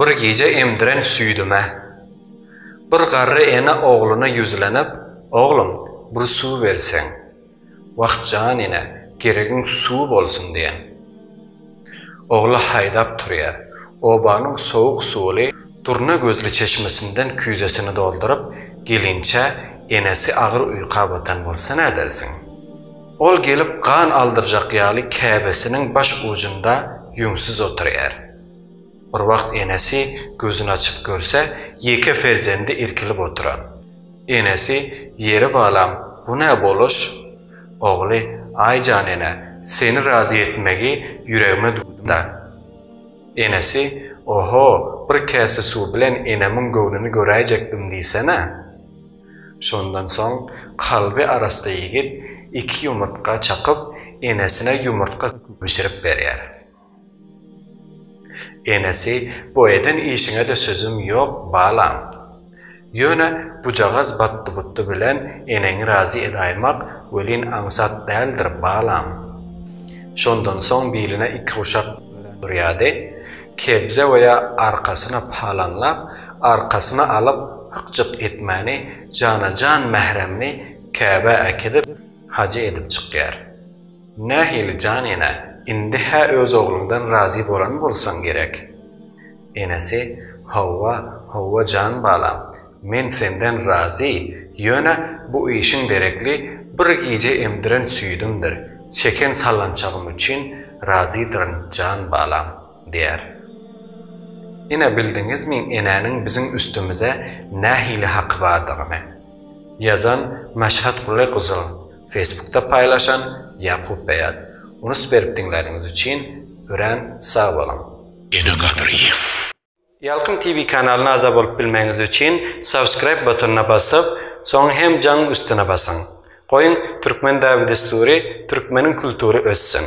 Bir gije emdiren süýdüme. Bir garry ene ogluna ýüzlenip, Oglum, bir suw berseň. Wah, jan ene, geregiň suw bolsun diýen. Ogly haýdap turýar. Obanyň sowuk suwly durna gözli çeşmesinden küýzesini dolduryp, gelinçä, enesi agyr uýka batan bolsa nädersiň? Ol gelip gan aldyrjak ýaly käbesiniň baş ujunda ýüňsüz oturýar. Bir wagt enesi gözüni açyp görse, ýeke perzendi irkilip oturan. Enesi, Ýeri balam, bu nä boluş? Ogly, Aý jan ene, seni razy etmegi ýüregime düwdüm-dä. Enesi, Oho, bir käse suw bilen enemiň göwnüni göräýjekdim diýsene. Şondan soň kalby arassa ýigit iki ýumurtga çakyp, enesine ýumurtga bişirip berýär. Enesi, Bu eden işiňe-de sözüm ýok, balam. Ýöne bujagaz batdy-butdy bilen eneňi razy edaýmak welin aňsat däldir, balam. Şondan soň biline iki guşak örýärdi. Kebze oýa arkasyna palaňlap, arkasyna alyp hyk-jyk etmäni, jana-jan mähremini käbä äkidip, hajy edip çykýar. Nähili jan ene, indi-hä öz ogluňdan razy bolan bolsaň gerek? Enesi, Hawa, hawa jan balam, men senden razy, ýöne bu işiň deregli bir gije emdiren süýdümdir, çeken sallançagym üçin razydyryn jan balam, diýer. Ine bildiňizmi enäniň biziň üstümize nähili haky bardygyny? Ýazan, Maşhat Guly gyzyl, Facebookda paýlaşan, Ýakup Beýat. Unus berip diňläniňiz üçin örän sag boluň! Ene gadryýeň. Ýalkym TV kanalyna agza bolup bilmegiňiz üçin subscribe butonyna basyp, soň hem jaň üstüne basyň. Goýuň Türkmen däbi-dessury, Türkmeniň kultury össün!